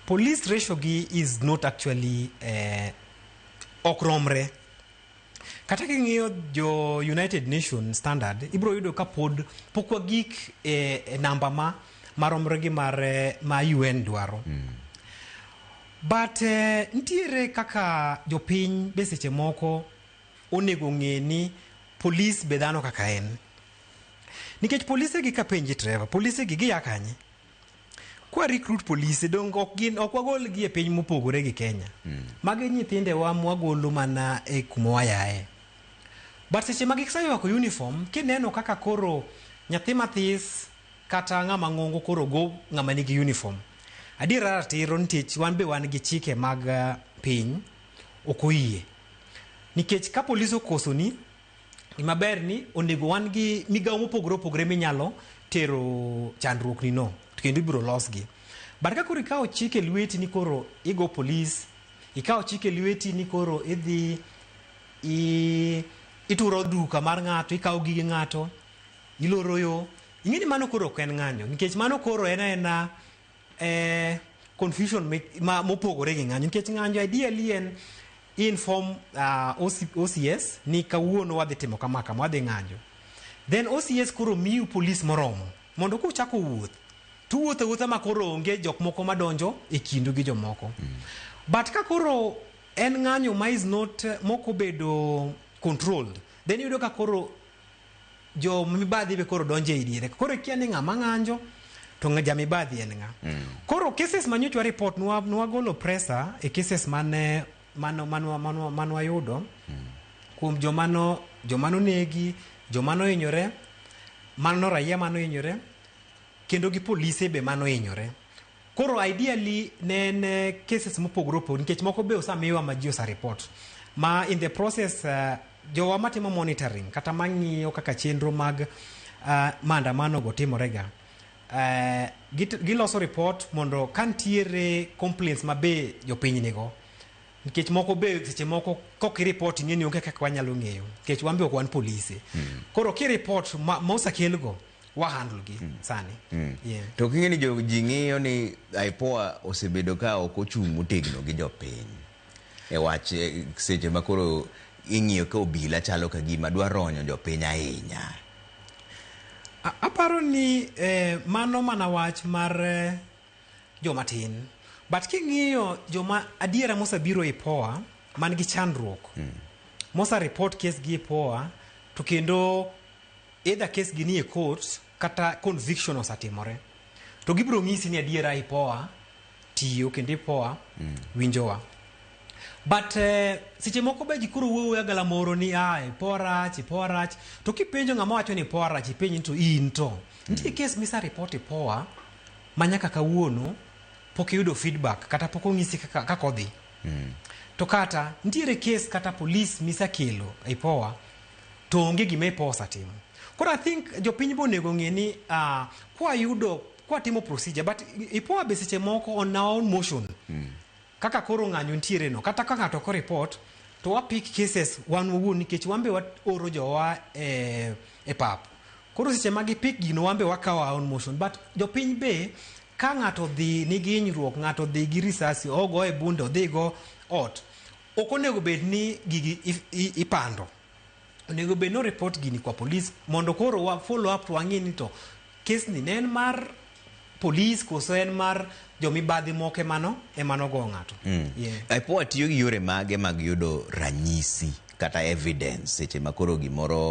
Police ratio gi is not actually eh, ok romre. Kata king'iyo jo United Nations standard ibro yudo ka pod pok wagik e, e namba ma maromre gi mar eh, ma UN dwaro. But eh, nitiere kaka jopiny be seche moko onego ng'e ni polis be dhano kaka en. Nikech polise gi ka penji treva, polise gi gia kanye? Kwa recruit polise donge ok gin ok wagolgi e piny mopogore gi Kenya. Magi nyithindewa mwagolo mana e kuma wayaye. But seche ma giseywako uniform kineno kaka koro nyathi mathis kata ng'ama ng'ongo koro go ng'ama nigi uniform. Adiera ratiro nikech wan be wan gi chike mag eh, piny ok oyie. Nikech ka polis okosoni Gima ber ni onego wan gi migawo mopogore opogore minyalo tero chandruokni no to kendo ibiro losgi. But ka koro ikawo chik e lweti ni koro igo polis, ikawo chik e lweti ni koro idhi i, ituro duka mar ng'ato, ikawo gige ng'ato, iloro yo, ing'e ni mano koro ok en ng'anyo nikech mano koro en aena eh, confusion me- ma- mopogore gi ng'anyo nikech ng'anyo ideally en inform uh, OC, OCS ni kawuono wadhi timo kama kama wadhi ng'anjo then OCS koro miu polis moromo mondo kuchako wuoth tuwuotho awuotha ma koro onge jok moko madonjo e kindu gi jomoko but ka koro en ng'anyo ma is not eh, mokobedo controlled then iyudo ka koro jo mibadhi be koro donjo ei diere koro ikia ni ng'ama ng'anjo to ng'a- ja mibadhi en ng'a koro cases ma nyochwa report nwa- nwagolo presa e cases mane mano- manwa- manwa- manwayudo kuom joma no joma nonegi joma nohinyore mano raia mano hinyore kendo gi polise be mano hinyore Koro ideally ne en eh, cases mopogore opogore nikech moko be osamiwa ma ji osareport ma in the process uh, jowa matimo monitoring kata mang'iyo kaka chenro mag uh, maandamanogo timorega uh, git- giloso report mondo ka ntiere complaints ma be jopiny nigo nikech moko be seche moko kok iripot ing'e ni onge kaka wanyalo ng'eyo nikech wan be ok wan polise koro kiripot ma, ma osakelgo wahandle gi mm. sani mm. Yeah. to king'e ni ji ng'iyo ni IPOA osebedo ka ok ochung' motegno gi jopiny e wach e, seche ma koro ing'iyo ka obila chalo ka gima dwa ronyo jopiny ahinya aparo ni eh, mano mana wach mar eh, jomatin but king'iyo joma adiera mosebiro IPOA man gi chandruok mm. mosa report case gi IPOA to kendo Either case gi nie courts kata conviction osatimore. To gibiro nyisi ni adiera ipoa tiyo kendo ipoa winjowa. But eh, seche moko be ji koro wuoyo agala moro ni ah ipoa rach, ipoa rach. To kipenjo ng'ama wacho ni ipoa rach, ipenj ni to in to. Nitie case misa report ipoa ma nyaka kawuono pok iyudo feedback kata pok onyisi kaka kaka odhi. To kata nitiere case kata police misekelo ipoa to onge gima iposa timo koro i think jopiny be onego ng'e ni uh, kwayudo kwatimo procedure but ipoa be seche moko on our own motion mm. kaka koro ng'anyo ntiere no kata ka ng'ato ko report to wa pick cases wan wawuon nikech wan be waoro jowa e, e pap koro seche ma gipick gino wan be wakawo our own motion but jopiny be ka ng'ato dhi nigi hinyruok ng'ato dhi gi risasi ogo e bunde odhigo ot Ok onego bed ni gigi ipando. Onego bed ni oreport gini kwa polis mondo koro wa follow up to wang'e ni to kesni ne en mar polis koso en mar jomibadhi moko emano emano go ng'ato. Mm. Yeah. IPOA tiyo gi yore mage mag yudo ranyisi kata evidence seche ma koro gimoro